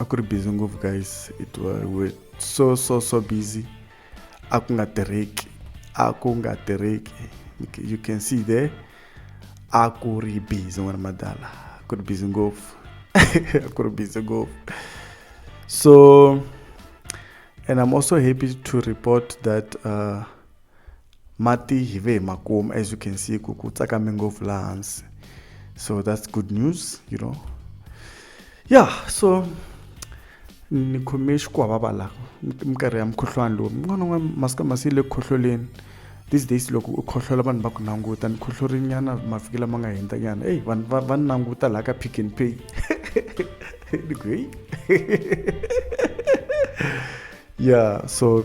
a ku ri busy ngopfu guys it was we so so so busy a ku nga tirheki a ku nga tirheki you can see there a ku ri busy n'wana madala a ku ri busy ngopfu a ku ri busy ngopfu so and i'm also happy to report that uh, mati hi ve hi ma kuma as you can see ku ku tsakame ngopfu laha hansi so that's good news you know ya so ni khome xikwavava la minkarhi ya mukhuhlwani lowu n'wana n'wana masiku lama se yi le ku khohloleni these days loko u khohlola vanhu va ku languta ni khohlorinyana mavhiki lama nga hundza nyana eyi vanhu va va ni languta laha ka pick and pay ni ku heyi ya so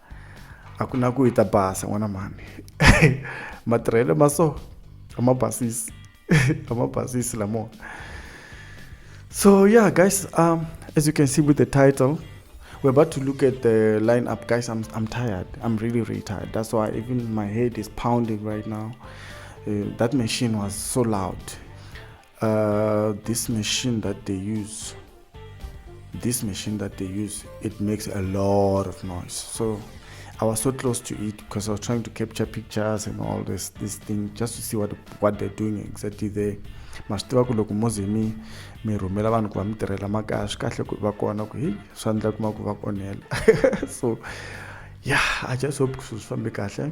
a ku na ku yi ta basa n'wana mhani matirhelo ma so a ma basisi a ma basisi lamo so yeah guys um, as you can see with the title we're about to look at the lineup guys i'm i'm tired i'm really really tired that's why even my head is pounding right now uh, that machine was so loud Uh, this machine that they use, this machine that they use, it makes a lot of noise. So I was so close to it because I was trying to capture pictures and all this this thing just to see what what they're doing exactly there. ma swi tiva ku loko mo ze mi mi rhumela vanhu ku va mi tirhela makaya swi kahle ku va kona ku hi swa endla kuma ku va onhela so yeah i just hope ku swilo swi fambe kahle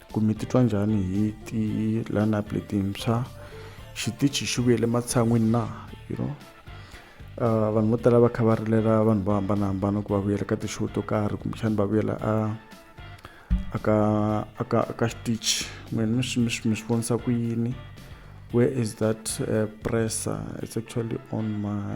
ku mi titwa njhani hi ti-lineup letintshwa xitichi xi vuyele matshan'wini na you know uh, vanhu vo tala va kha va rilela vanhu vo hambanahambana ku va vuyela ka ti-show to karhi kumbexani va vuyela a aka aka aka xitichi n'wena mi swi mi swi mi swi vonisa ku yini where is that uh, presser it's actually on my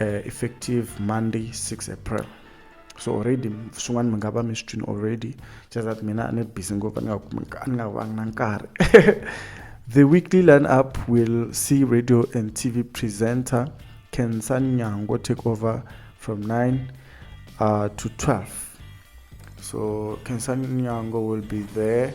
uh, effective monday 6 april so already swin'wana mi nga va mi swi twini already just that mina ni busy ngopfu ni nga ni nga vangi na nkarhi the weekly line up will see radio and tv presenter kensa nyango take over from 9 uh, to 12 so kensa nyango will be there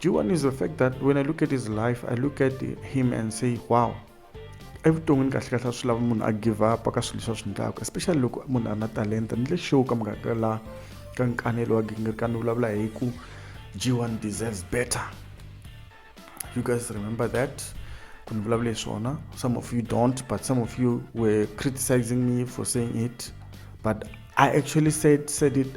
G1 is the fact that when I look at his life, I look at him and say, wow, evuton'wini kahle kahle a swi lava munhu a give up ka swilo leswi a swi endlaka especially loko munhu a ri na talenta ni le show ka mugaka la ka nkanelo wa gingirika ni vulavula hi ku g1 deserves better you guys remember that ku ni vulavula hi swona some of you don't but some of you were criticizing me for saying it but i actually said said it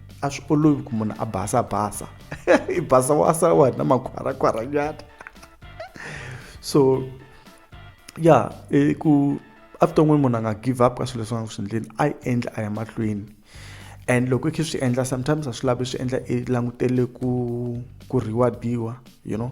a swi olovi ku munhu a basa basa i basa wa sa wa na makhwarakhwaranyana so ya yeah, ku evuton'wini munhu a nga give up ka swilo leswi nga ku swi endleni a yi endla a ya mahlweni and loko i khe swi endla sometimes a swi lavi swi endla i langutele ku ku reward-iwa you know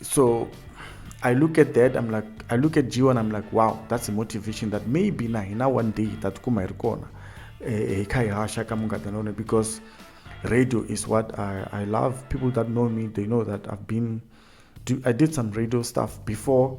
So I look at that, I'm like, I look at Gio and I'm like, wow, that's a motivation that maybe na hina one day tatukuma iri kona eh, eh, kaihasha kamungadanone because radio is what I, I love. People that know me, they know that I've been, do, I did some radio stuff before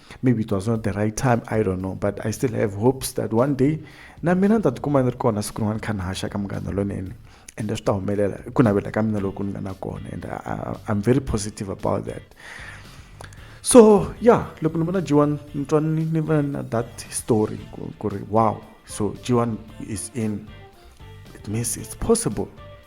maybe it was not the right time i don't know but i still have hopes that one day na mina ni ta tikuma ni ri kona siku rin'wana kha ni haxa ka munghana lonene ende swi ta humelela i ku navela ka mina loku ni nga na kona and i'm very positive about that so yeah loko ni vona jiwan ni twa ni ni va na that story ku ri wow so jiwan is in it means it's possible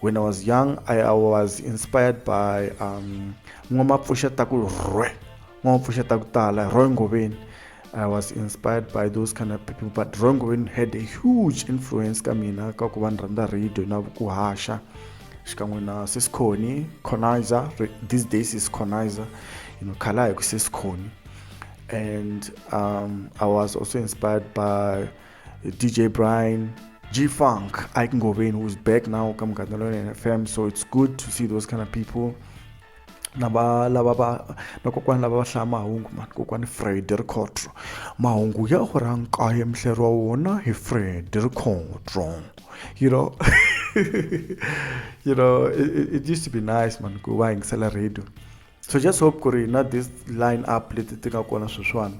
when i was young i, I was inspired by um, n'wamapfuxa ta ku rhwe n'wamapfuxa ta ku tala rhwe ngoveni I was inspired by those kind of people but Roy Ngoveni had a huge influence ka mina ka ku va ni rhandza radio na ku haxa xikan'we na sisconi conizer these days is conizer you know khala hi ku sisconi and um, i was also inspired by dj brian G Funk, Ike Ngoven, who's back now, come Katalonian FM. So it's good to see those kind of people. lava lava va na kokwani lava va hlaya mahungu mani kokwani fred rikhotro mahungu ya hora nkaye mihleri wa wona hi fred rikhotro you know you know it, it used to be nice man ku va yingisela radio so just hope ku ri na this line up leti ti nga kona sweswiwani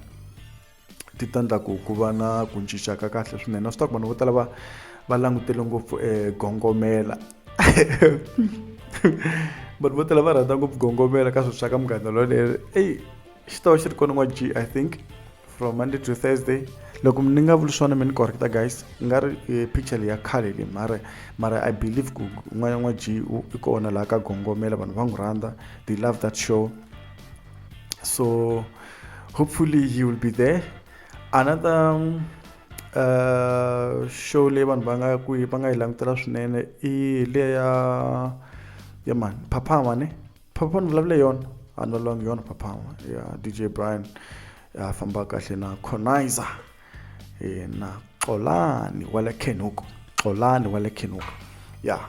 ti ta endla ku ku va na ku cinca ka kahle swinene na swi ta ku vanhu vo tala va va langutele ngopfu eh, gongomela vanhu vo tala va rhandza ngopfu gongomela ka swilo swa ka munghana loleri eyi xi ta va xi ri kona n'wa g i think from monday to thursday loko ni nga vuli swona mi ni correcta guys nga ri eh, picture leyi ya khale leyi mara mara i believe ku n'wana n'wa g i kona laha ka gongomela vanhu va n'wi rhandza they love that show so hopefully he will be there another um, uh, show leyi vanhu va nga ku va nga yi langutela swinene i leya ya ya mani phaphama ne phaphama ni vulavule yona a no long yona phaphama ya dj brian ya famba kahle na conizer e, na xolani wa le kenuku xolani wa le kenuku ya yeah.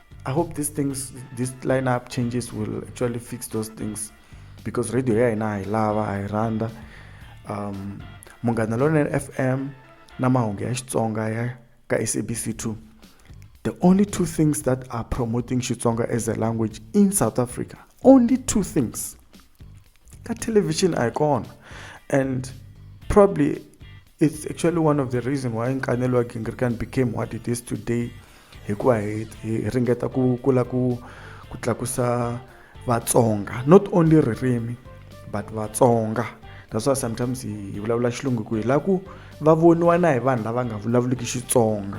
I hope these things, this lineup changes will actually fix those things because radio ya hina hi lava hi rhandza um munghana lonene fm na mahungu ya xitsonga ya ka sabc 2 the only two things that are promoting xitsonga as a language in south africa only two things ka television icon and probably It's actually one of the reason why nkanelo wa Gingirikani became what it is today hikuva hi, hi ringeta ku kula ku ku tlakusa vatsonga not only ririmi but vatsonga that's why sometimes hi vulavula xilungu ku hi la ku va voniwa na hi vanhu lava nga vulavuliki xitsonga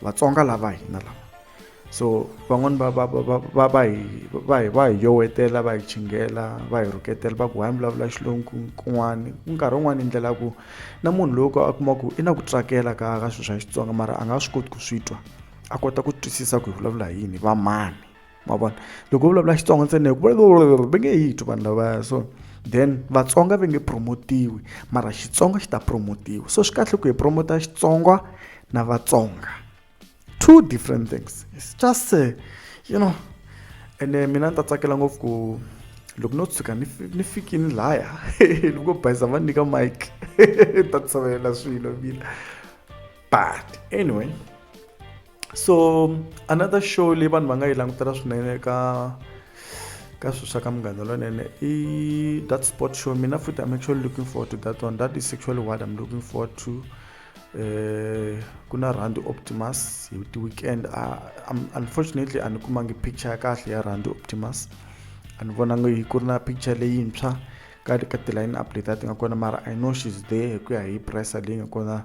vatsonga lava hina lava so van'wani va va va va va hi va hi va hi yowetela va hi chingela va hi rhuketela va ku hayi mi vulavula xilungu kun'wani nkarhi wun'wani yi ndlela ya ku na munhu loyi ka a kuma ku i na ku tsakela ka ka swilo swa xitsonga mara a nga swi koti ku swi twa a kota ku twisisa ku hi vulavula hi yini va mani ma vona loko vulavula xitsonga ntsena hi ku vulavula va nge yi twi vanhu lavaya so then vatsonga va nge promotiwi mara xitsonga xi ta promotiwa so swi kahle ku hi promota xitsonga na vatsonga two different things it's just uh, you know ene eh, mina ni ta tsakela ngopfu ku loko no tshuka ni ni fikini laya loko bayisa va nyika mike ta tsavela swilo mina but anyway so another show leyi vanhu va nga yi langutela swinene ka ka swilo swa ka munghana lonene i that sport show mina futhi i'm actually looking forward to that one that is actually what i'm looking forward to eh ku na rand optimus hi ti weekend ah, unfortunately a ni kumangi picture ya kahle ya rand optimus a ni vonangi yi ku ri na picture leyintshwa ka ka ti-line up leti a ti nga kona mara i know she's there hi ku ya hi pressa leyi nga kona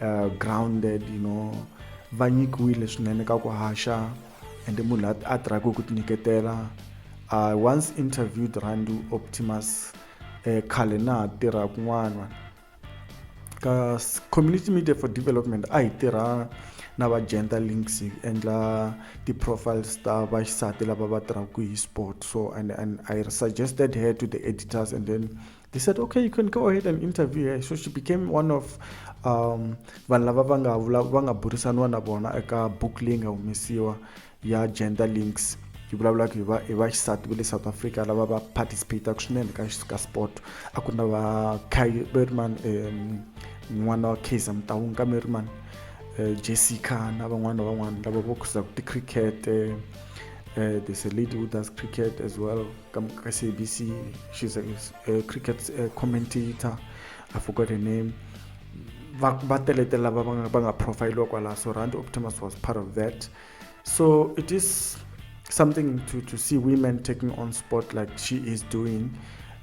uh, grounded you know va nyikiwile swinene ka ku haxa and munhu la a tirhaka hi ku tinyiketela i once interviewed randu optimus um khale na ha tirha kun'wana ka community media for development a hi tirha na va gender links hi endla ti-profiles ta vaxisati lava va tirhaka hi sport so and, and i suggested her to the editors and then They said, okay, you can go ahead and interview her. So she became one of um, vanhu lava va nga va nga burisaniwa na vona eka book leyi nga humesiwa ya gender links yi vulavulaka hi va hi va xisati va le south africa lava va participataka swinene ka ka sport a ku na va berman um n'wana wa kaiza mutawunga ka merman uh, eh, jessica na van'wana van'wana lava va khuzaka ticricket uh, there's a lady who does cricket as well come SABC. She's a, a cricket a commentator. I forgot her name. Batelete lava va nga profile kwala so Rand Optimus was part of that. So it is something to, to see women taking on sport like she is doing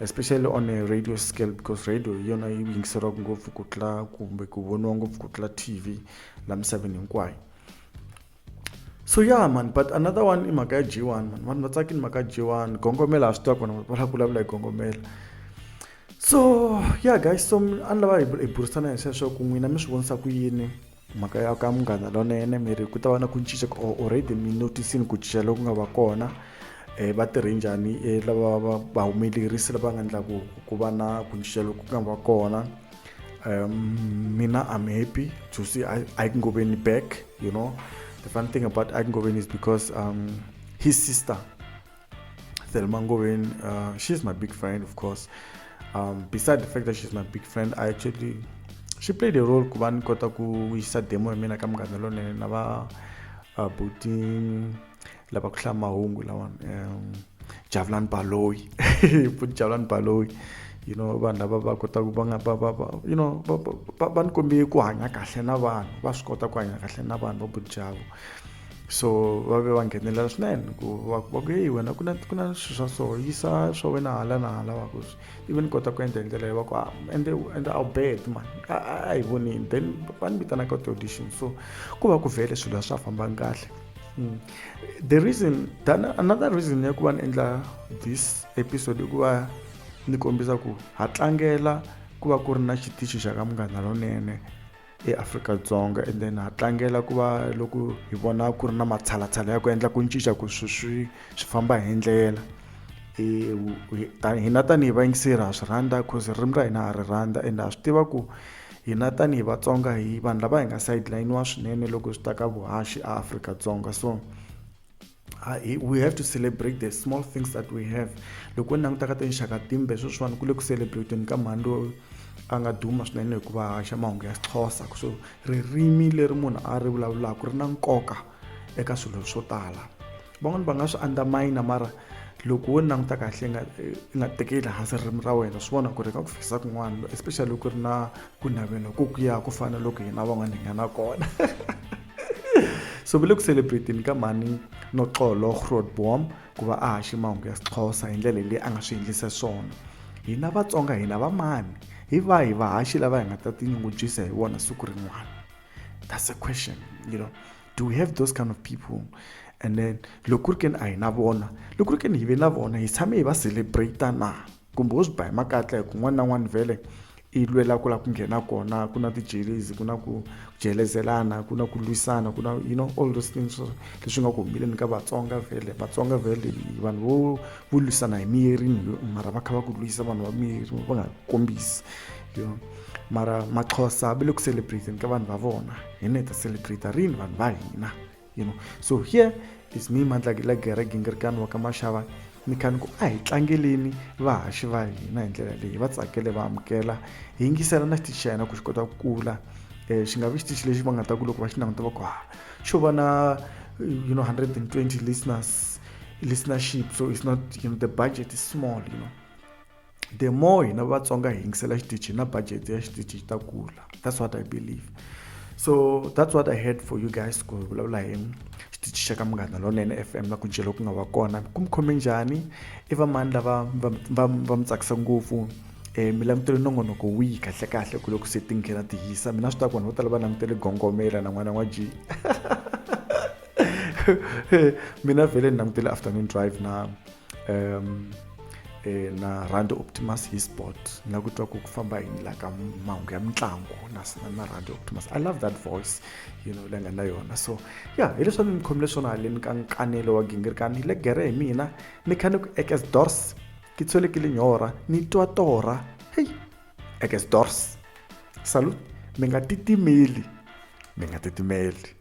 especially on a radio scale because radio hi yona yi yingiseriwaka ngopfu ku tlula kumbe ku voniwa ngopfu ku tlula tv la misaveni hinkwayo so ya mani but another one i mhaka ya g one mani vanhu va tsakini mhaka g one gongomela a swi tiva kona va lava ku vulavula hi gongomela so ya guys so a ni lava hi burisana hi sweswo ku n'wina mi swi vonisa ku yini mhaka ya ka munghana lonene mi ri ku ta va na ku cinca already mi notisini ku cinca loku nga va kona um va tirhe njhani um lava va va humelerisi lava nga endlaku ku va na ku cinca loku nga va kona Um, Mina, I'm happy to see I- Aikengobeni back, you know. The fun thing about Aikengobeni is because um, his sister, Thelma Ngobeni, uh, she's my big friend, of course. Um, beside the fact that she's my big friend, I actually, she played a role kuva ni kota ku yisa demo ya mina ka munghana lonene na va uh, Buting, lava ku hlaya mahungu lawa um javulani baloyi futhi javulani baloyi you know vanhu lava va kotaka va nga va va va you know va va va ni kombe ku hanya kahle na vanhu va swi kota ku hanya kahle na vanhu va budijavo so va ve va nghenelela swinene ku va va ku heyi wena ku na ku na swilo swa so yisa swa wena hala na hala va ku ivi ni kota ku endla hi ndlela leyi va ku ah, ende ende a wu bed mani a a hi vonini then va ni vitanaka ti-audition so ku va ku vhele swilo a swi a fambangi kahle Mm. the reason tana another reason ya ku va ni endla this episode i ku va ni kombisa ku ha tlangela ku va ku ri na xitichi xa ka munghana lonene eAfrika-Dzonga and then ha tlangela ku va loko hi vona ku ri na matshalatshala ya ku endla ku cinca ku swi swi swi famba hi ndlela hina tanihi vayingiseri ha swi rhandza cause ririmi ra hina ha ri rhandza and ha swi tiva ku Hina tanihi Vatsonga hi vanhu lava hi nga sideline-iwa swinene loko swi ta ka vuhaxi a Afrika-Dzonga so we have to celebrate the small things that we have loko ni languta ka tinxaka timbe sweswiwani ku le ku celebrateni ka mhani loyi a nga duma swinene hikuva haxa mahungu ya xixhosa so ririmi leri munhu a ri vulavulaka ri na nkoka eka swilo swo tala van'wani va nga swi underminer mara loko wo languta kahle nga i nga tekeli hansi ririmi ra wena swi vona ku ri ka ku fikisa kun'wana especially loko ri na ku navela ku ku ya ku fana loko hina van'wana hi nga na kona so ve le ku celebrateni ka mhani noxolo grootboom ku va a haxe mahungu ya sixhosa hi ndlela leyi a nga swi endlisa swona hina vatsonga hina va mani hi vahi vahaxi lava hi nga ta tinyungubyisa hi vona siku rin'wana that's a question you know do we have those kind of people and then loko ku ri keni a hi na vona loko ku ri keni hi ve na vona hi tshame hi va celebrate na kumbe wo swi ba hi makatla hi ku n'wana na n'wana vhele i lwela ku lava ku nghena kona ku na tijelezi ku na ku jelezelana ku na ku lwisana ku na you know all those things leswi nga ku humeleni ka vatsonga vhele vatsonga vhele vanhu vo vo lwisana hi miyeri mara va kha va ku lwisa vanhu va miyeri va nga kombisi you know mara maxhosa va le ku celebrateni ka vanhu va vona hina hi ta celebrate rini vanhu va hina you know so here is me mandlakila gere gingirikani wa ka maxava ni kha ni ku a hi tlangeleni vahaxi va hina hi ndlela leyi va tsakele va amukela hi yingisela na xitichi xa hina ku xi kota ku kula um xi nga vi xitichi lexi va nga ta ku loko va xi languta va ku ha xo va na you know 120 listeners listenership so it's not you know the budget is small you know the more hina vatsonga hi yingisela xitichi na budget ya xitichi xi ta kula that's what i believe so that's what i had for you guys ku hi vulavula hi xitichi xa ka munghana lonene f m na ku jelo ku nga va kona ku mi khome njhani i vamani lava va mi tsakisa ngopfu um eh, mi langutele nongonoko wihi kahlekahle ku loko se ti nghena ti hisa mina swi ta ku vanhu vo tala va langutele gongomela na n'wana n'wa ji mina vhele ni langutele afternoon drive na um eh, na rhandi optimus hi sport na ku twa ku ku famba hi la ka mahungu ya mitlangu na na rhandi optimus i love that voice you know leyi nga na yona so ya hi leswi a ni ni khomile swona haleni ka nkanelo wa gingirikani hi le gere hi mina ni kha ni ku ekes dors ke tshwele ke lenyora ni twa tora hei ekes dors salut mi nga titimeli mi nga titimeli